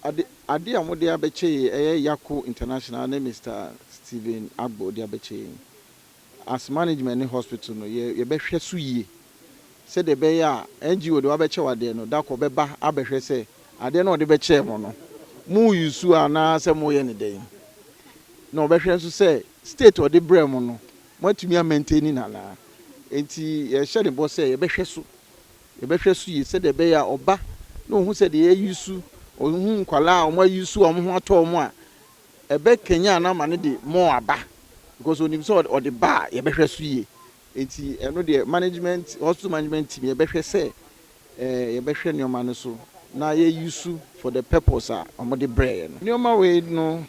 Ade ade a wɔde abɛkyɛ yei, ɛyɛ Yako International ne Mister Stephen Agbo de abɛkyɛ yɛn. As management ne hospital no, yɛ yɛbɛhwɛ so yie sɛdeɛ ɛbɛyɛ a NGO deɛ wabɛkyɛ wo adeɛ no, da koro ɔbɛba abɛhwɛ sɛ adeɛ no a ɔde bɛkyɛɛ mo no, mo use a anaa sɛ moyɛ no dɛn. Na ɔbɛhwɛ nso sɛ state a ɔde brɛɛ mo no, moatumi a maintain no anaa. Enti yɛhyɛ ne bɔ sɛ yɛbɛhwɛ so. Yɛbɛhwɛ nso yie sɛdeɛ ɛbɛyɛ a ɔba na ɔhu sɛ deɛ yɛayi su, ɔhu nkwadaa a wɔayi su a wɔn ho atɔ wɔn a, ɛbɛkanyan no ama no de more aba because ɔnim sɛ ɔde ba a, yɛbɛhwɛ so yie. Enti ɛno deɛ management, hospital management team yɛbɛhwɛ sɛ eh, yɛbɛhwɛ nneɛma no so na yɛayi su for the purpose a wɔde brɛeɛ no. Nneɛma wei no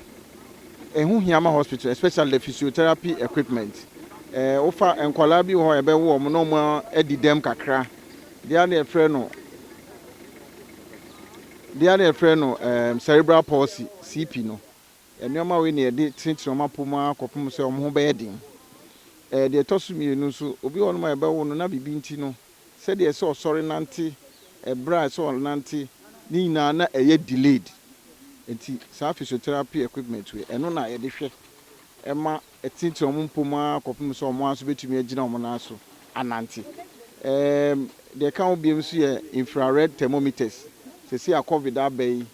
Ɛho hia ma hospital especially the physiotherapy equipment. Eh, wofa nkwadaa bi wɔ hɔ a yɛbɛwo wɔn na wɔn adi dɛm kakra. Deɛ adeɛ yɛfrɛ no deɛ adeɛ yɛfrɛ no um, cerebral palsy, CP no. Nneɛma wei na yɛde tenetene wɔn apɔ mu ara kɔpem sɛ wɔn ho bɛyɛ den. Eh, deɛ ɛtɔ so mmienu nso, obi wɔ hɔ nom a yɛbɛwo no na biribi nti no, Sɛdeɛ ɛsɛ ɔsɔre nante, ɛberɛ a ɛsɛ ɔnante, ne nyinaa na ɛyɛ delayed. Enti saa physiotherapy equipment wei, ɛno na yɛde hwɛ ma ɛtenetene wɔn mpɔ mu ara kɔpem sɛ wɔn ara nso bɛtumi agyina wɔn nan so anante. Ɛɛm, deɛ ɛka ho biom nso yɛ infrared thermometers. Seesei a Covid aba yi,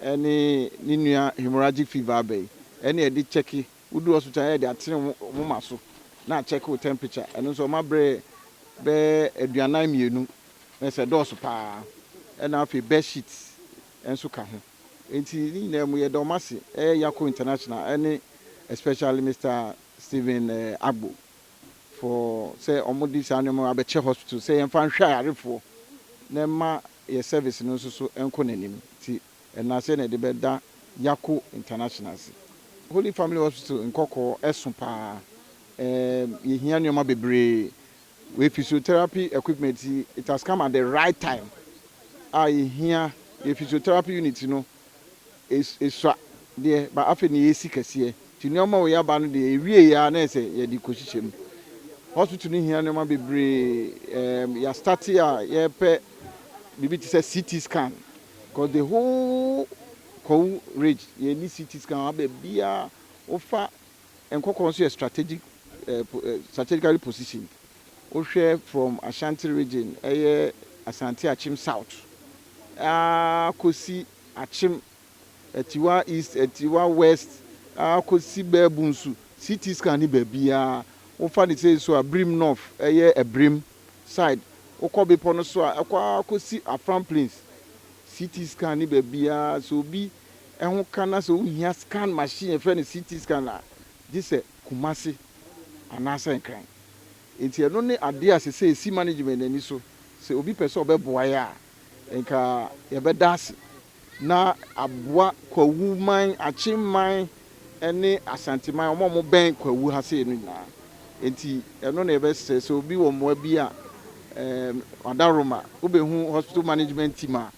ɛne ne nua hemorrhagic fever aba yi, ɛne yɛde kyɛke. Wodu hospital a yɛde atene wo moma so na akyɛke wo temperature. Ɛno nso wɔma berɛ bɛyɛ aduanan mmienu ɛs ɛdɔɔso paa ɛna afei bed sheet nso ka ho. Enti ne nyinaa mu yɛda wɔn ase ɛyɛ Yako International ɛne especially Mister Stephen Agbo for sɛ wɔde saa nneɛma wei abɛkyɛ hospital sɛ yɛmfa nhwɛ ayarefoɔ na ɛmma yɛn service no nso so nko n'anim. Nti. Ɛna sɛ na yɛde bɛda Yako International ase. Holy Family Hospital nkɔkɔɔ ɛso paa. Ɛɛm yɛhia nnoɔma bebree. Wei physiotherapy equipment yi it has come at the right time a yɛhia yɛ physiotherapy unit no es esua deɛ but afei na yɛresi kɛseɛ nti nnoɔma a wei aba no deɛ yɛwieeɛ ara na ayɛ sɛ yɛde rekɔhyehyɛ mu. Hospital no hia nnoɔma bebree. Ɛɛm yɛastate a yɛrepɛ biribi te sɛ CT scan. Cause the whole Kwawu ridge yɛnni CT scan wɔ ha baabiara wofa Nkɔkɔɔ nso yɛ strategic strategically positioned wohwɛ from Ashanti region ɛyɛ Asante Akyem south aa kɔsi Akyem Atiwa east Atiwa west aa kɔsi Baabu nso CT scan ni baabiara wofa ne sɛ nso a Birim north ɛyɛ Abirem side wokɔ bepɔ no so a ɛkɔ ara kɔsi Afram Plains CT scan ne baabiara sɛ obi ɛho ka na sɛ wohia scan machine yɛfrɛ no CT scan a gye sɛ Kumasi anaasɛ Nkran nti ɛno ne adeɛ a sɛsɛ ɛsi management ani so sɛ obi pɛ sɛ ɔbɛboa yɛ a nka yɛbɛda ase. na aboa Kwawu man, Akyem man ne Asante man, wɔn a wɔbɛn Kwawu ha sei no nyinaa. Enti ɛno na yɛbɛsrɛ sɛ obi wɔ mmoa bi a ɛɛ Adaroma, wobɛhu Hospital Management Team a,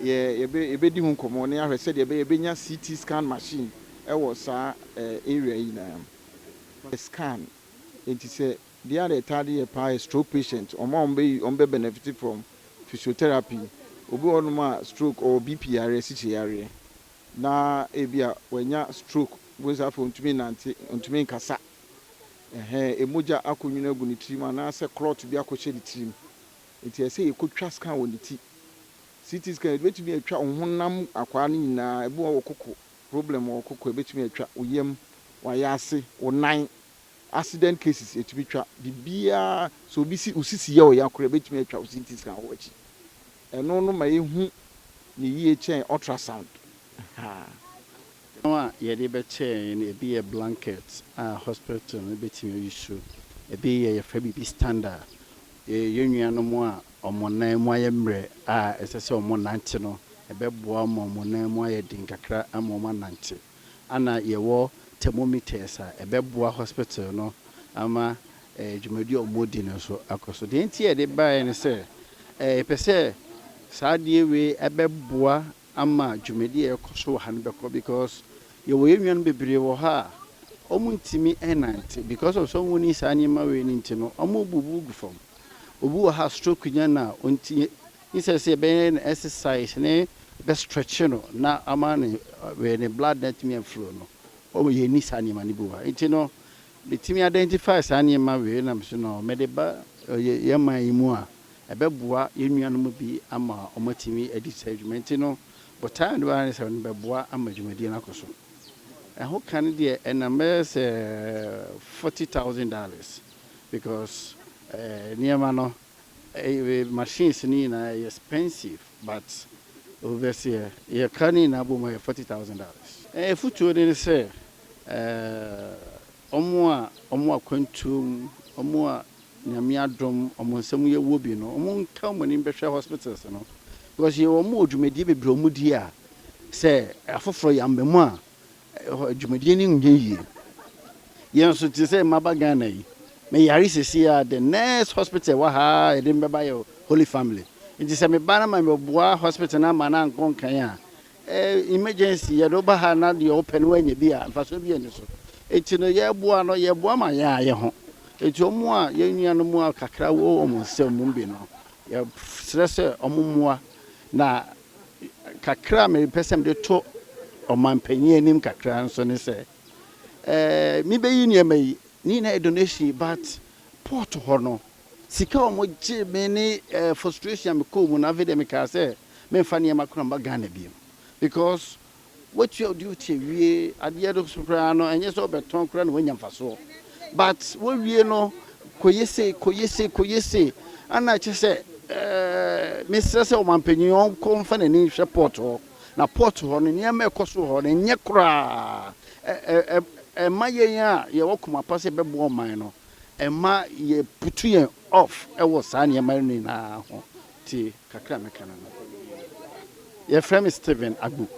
yɛ yɛbɛ yɛbɛdi ho nkɔmmɔ na yɛahwɛ sɛdeɛ ɛbɛyɛ yɛbɛnya CT scan machine wɔ saa ɛɛ area yi nyinaa mu. Scan, enti sɛ Dee a na ɛtaa de yɛ paa yɛ stroke patient, wɔn a wɔbɛ wɔn bɛ benefit from physiotherapy, obi wɔ hɔ nom a stroke, ɔwɔ BP yareɛ, sikye yareɛ, na ebi a wanya stroke wei sɛ afei ɔntumi nnante, ɔntumi nkasa, ɛhɛɛ, ɛmogya akɔ nwunu agu ne tirim anaa sɛ clot bi akɔ hyɛ ne tirim, nti ɛsɛ yɛ kɔ twa scan wɔ ne ti, CT scan, yɛde bɛtumi atwa wo honam akwaa no nyinaa, ebi wɔ hɔ wɔ koko, problem wɔ koko, ɛbɛtumi atwa, wo yam, w'ayaase, wo nan. Accident cases ɛtumi twa biribiara, sɛ obi si wo sisi yɛ wo ya koraa ɛbɛtumi atwa wo CT scan wɔ akyi. Ɛno no ma yɛhu no yie kyɛn ultrasound. Nnuro a yɛde bɛkyɛ yɛn no ɛbi yɛ blanket a hospital no bɛtumi ayi so, ɛbi yɛ yɛfrɛ biribi stander, yɛn nuanom a wɔn nan mu ayɛ mmerɛ a ɛsɛ sɛ wɔnante no ɛbɛboa wɔn ma wɔn nan mu ayɛ den kakra ama wɔn anante. Ana yɛwɔ thermometers a ɛbɛboa hospital no ama dwumadi a wɔdi no nso akɔ so? Deɛ nti a yɛde baeɛ ne sɛ, yɛpɛ sɛ saa adeɛ wei ɛbɛboa ama dwumadi a ɛrekɔ so wɔ ha no bɛkɔ because yɛwɔ yɛn nuanom bebree wɔ ha a wɔntumi nnante because of sɛ wɔnni saa nneɛma wei no nti no, wɔbubu gu fam. Obi wɔ ha a stroke nya no a, ɔnti Instead sɛ yɛbɛyɛ no exercise ne bɛ stretch no na ama ne wɛɛ ne blood no atumi a flow no wɔn yɛn nni saa nneɛma no bi wɔ ha nti no metumi identify saa nneɛma wei nam so no mɛde ba yɛ yɛn man yi mu a ɛbɛboa yɛn nuanom bi ama wɔn atumi adi saa adwuma nti no botaa no ara ne sɛ wɔn bɛboa ama dwumadie no akɔ so ɛho ka no deɛ ɛnam bɛyɛ sɛ forty thousand dollars because ɛɛ nneɛma no. Machines no nyinaa ɛyɛ expensive but obviously ɛ yɛ ka ne nyinaa bom a ɛyɛ forty thousand dollars. Afutuo no ne sɛ wɔn a wɔn akwantuo mu, wɔn a Nyame adom wɔn nsa mu yɛ wɔ bi no, wɔn nka wɔn anim bɛhwɛ hospitals no because yɛ wɔn wɔ dwumadie bebree a wɔn di a sɛ afoforɔ yɛ amba mu a, Ɛhɔ dwumadie no nyɛ yie. Yɛn nso te sɛ maba Ghana yi, me yare sɛsii a the next hospital ɛwɔ ha a yɛde me bɛba yɛ Holy Family. Nti sɛ me ba no ma me boa hospital no ama no ankɔ nkan a, eh, emergency, yɛde wo ba ha na deɛ wopɛ no woanya bi a, mfasoɔ bi ɛnni so. Nti no yɛboa no, yɛboa ma yɛn ayɛ ho. Nti wɔn a yɛn nuanom a kakra wɔ wɔn nsam mu bi no, yɛsrɛ sɛ wɔn mmoa na. Kakra a mepɛ sɛ mede to ɔmampanyin anim kakra nso ne sɛ, mebeyi nneɛma yi, ne nyinaa yɛ donation but port hɔ no, sika a wɔgyee me ne frustration a mekɔɔ mu no, afei deɛ mekaa sɛ memfa nneɛma koraa mma Ghana bio because Woatua wo duty awie, adeɛ no so koraa no ɛnyɛ sɛ wobɛtɔn koraa na woanya mfasoɔ but wowie no kɔyɛ sei kɔyɛ sei kɔyɛ sei ɛna kyɛ sɛ eh, mesrɛ sɛ ɔmampanyin ɔnkɔ mfa n'ani nhwɛ port hɔ na port hɔ no nneɛma ɛkɔ so hɔ no ɛnyɛ koraa ɛma yɛn a yɛwɔ koma pa sɛ ɛbɛboa ɔman no ɛma yɛputu yɛn off ɛwɔ saa nneɛma no nyinaa ho Tie kakra a mɛka no no. Yɛfrɛ me Stephen Agbo.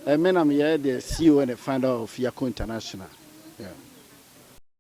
Me na meyɛ the CEO and the founder of Yako International. Yeah.